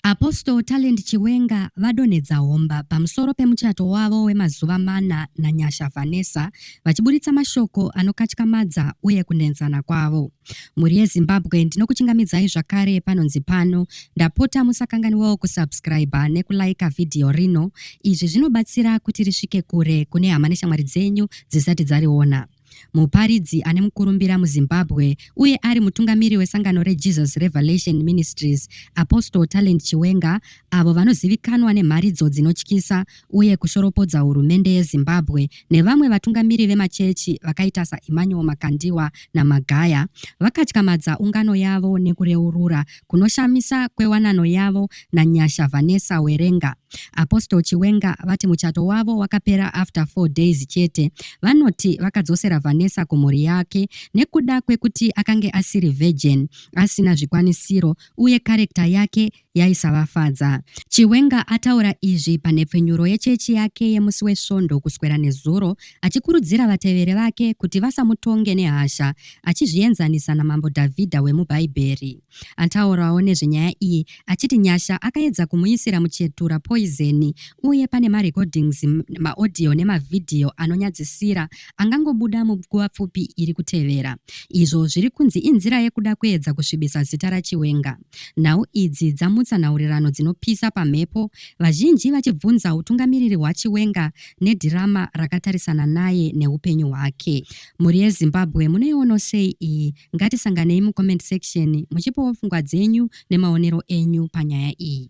Apostle Talent Chiwenga vadonhedza homba pamusoro pemuchato wavo wemazuva mana naNyasha Vanessa vachiburitsa mashoko anokatyamadza uye kunenzana kwavo. Mhuri yeZimbabwe ndinokuchingamidzai zvakare panonzi pano ndapota musakanganiwawo kusubscriber nekulaika vhidhiyo rino. Izvi zvinobatsira kuti risvike kure kune hama neshamwari dzenyu dzisati dzariona. muparidzi ane mukurumbira muzimbabwe uye ari mutungamiri wesangano rejesus revelation ministries apostle talent chiwenga avo vanozivikanwa nemharidzo dzinotyisa uye kushoropodza hurumende yezimbabwe nevamwe vatungamiri vemachechi vakaita saemmanuel makandiwa namagaya vakatyamadza ungano yavo nekureurura kunoshamisa kwewanano yavo naNyasha Vanessa Werenga. Apostle Chiwenga vati muchato wavo wakapera after 4 days chete. Vanoti vakadzosera Vanessa kumhuri yake nekuda kwekuti akange asiri virgin, asina zvikwanisiro uye karekta yake yaisavafadza. Chiwenga ataura izvi panhepfenyuro yechechi yake yemusi weSvondo kuswera nezuro achikurudzira vateveri vake kuti vasamutonge nehasha achizvienzanisa naMambo Dhavhidha wemuBhaibheri. Ataurawo nezvenyaya iyi achiti Nyasha akaedza kumuisira muchetura poizeni uye pane marekodings, maodhiyo nemavhidhiyo anonyadzisira angangobuda munguva pfupi iri kutevera, izvo zviri kunzi inzira yekuda kuedza kusvibisa zita raChiwenga. Nhau idzi dzamutsa nhaurirano dzinopisa pamhepo, vazhinji vachibvunza utungamiriri hwaChiwenga nedhirama rakatarisana naye neupenyu hwake. Mhuri yeZimbabwe munoiwono sei iyi? Ngatisanganei mucomment section muchipawo pfungwa dzenyu nemaonero enyu panyaya iyi.